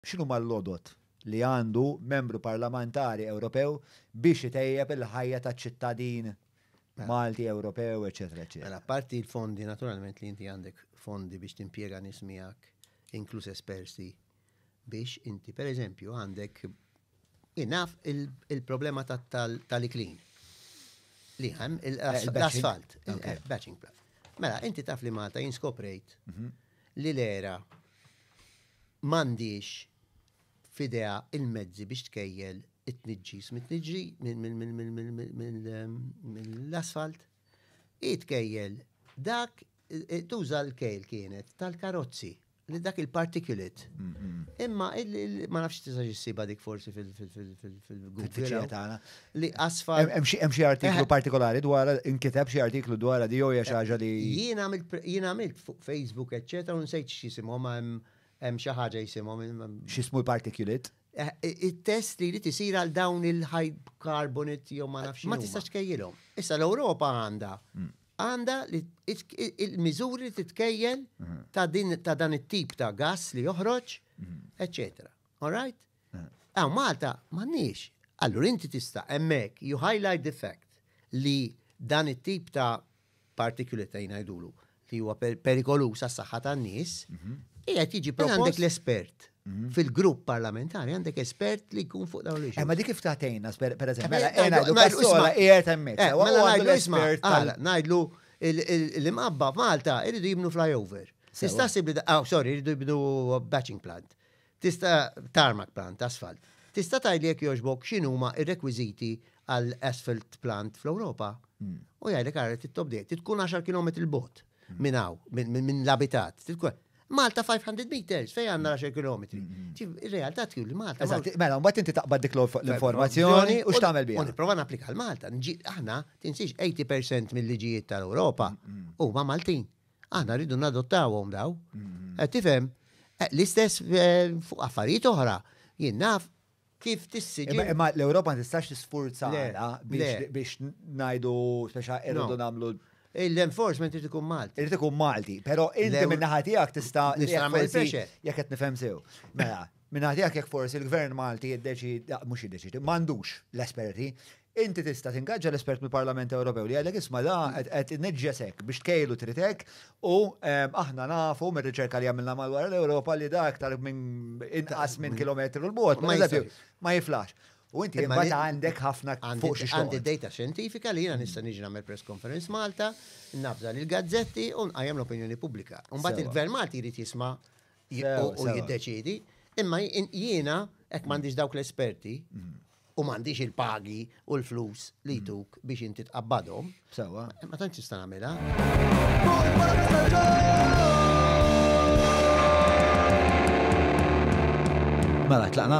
X'inhuma l-għodod li għandu Membru Parlamentari Ewropew biex itejjeb il-ħajja ta' ċittadin Malti, Ewropew, eċċetera eċċetera. Mela apparti l-fondi naturalment li inti għandek fondi biex timpjega nies miegħek inkluż esperti biex inti pereżempju għandek inaf il-problema tal-iklin li hemm l-asfalt, batching plant. Mela inti taf li Malta jinskoprejt mhm. li l-ERA m'għandhiex f'idejha l-mezzi biex tkejjel it-tniġġis mit-tniġġi mill-asfalt. Hi tkejjel dak tuża l-kejl kienet tal-karozzi li dak il-particulate. Imma ma nafx tista' ġissiba dik forsi fil-Google. Fil-fiċċija tagħna. li asfar. Hemm xi artiklu eh. partikolari dwar inkiteb xi artiklu dwar di jew xi eh, ħaġa li. Jien għamilt jien għamilt fuq Facebook eċċetera u nsejt x'isimhom hemm xi ħaġa jisimhom. X'ismu l-particulate? Eh, it-test li jrid isir għal dawn il-hydrocarbonit jew ma nafx. Ma tistax kejjilhom. Issa l-Ewropa għandha hmm. għandha il-miżuri li titkejjel hmm. ta' dan it-tip ta' gas li joħroġ, hmm. eċċetera. All right? Għaw Malta, mannix. Allur inti tista' emmek, you highlight the fact li dan it-tip ta' particulate ta' jnajdulu li huwa perikolus għas saħħa tan nies mhm. qiegħed jiġi propost. Għandek l-espert mhm. fil-grupp parlamentari għandek espert li jkun fuq dawn l-ġimgħa. Eh, ma dik kif tagħtejna per eżempju, mela għena eh, l-isma qiegħed hemmhekk. Eh, mela ngħidlu isma' ngħidlu l-imqabba Malta iridu jibnu flyover. Tista' sib li ah, sorry, iridu jibnu batching plant. Tista' tarmak plant, asfalt. Tista' tgħidli jekk jogħġbok x'inhuma r-rekwiżiti għal asfalt plant fl-Ewropa? U jgħidlek ara trid tobdej, trid tkun 10 kilometri 'l bogħod minn hawn, minn l-abitat. Malta 500 meters fejn għandna 10 kilometri. Ir-realtà tgħid li Malta. Eżatt, mela mbagħad inti taqbad dik l-informazzjoni u x'tagħmel biha? U nipprova napplika għal Malta. Aħna tinsiex 80% mill-liġijiet tal-Ewropa huma Maltin. Aħna rridu nadottawhom daw. Mm-hmm. Qed tifhem eh, l-istess eh, fuq affarijiet oħra. Jien naf kif tissiġi. Imma l-Ewropa ma tistax tisfurza biex ngħidu speċa irridu nagħmlu l-enforcement irid ikun Malti. Irid ikun Malti, però inti minn naħa tiegħek tista' jekk qed nifhem sew. Mela, Minn naħa tiegħek jekk forsi l-Gvern Malti jiddeċiedi, mhux jiddeċiedi, m'għandux l-esperti, inti tista' tingaġġa l-espert mill-Parlament Ewropew li jgħidlek isma' da qed inniġġesek biex tkejlu trid hekk u ehm, aħna nafu mir-riċerka li għamilna madwar l-Ewropa li da aktar minn inqas minn kilometru l-bogħod, ma jiflax. U inti ma għandek ħafna fuq xi Għandi data xjentifika li jiena nista' niġi nagħmel press conference Malta, nafża lil gazzetti u nqajjem l-opinjoni pubblika. Mbagħad il-Gvern Malti jrid jisma' u jiddeċidi, imma jiena hekk m'għandix dawk l-esperti u m'għandix il-pagi u l-flus li jtuk biex inti tqabbadhom. Sewa. Ma tantx tista' nagħmilha. Mela, tlaqna?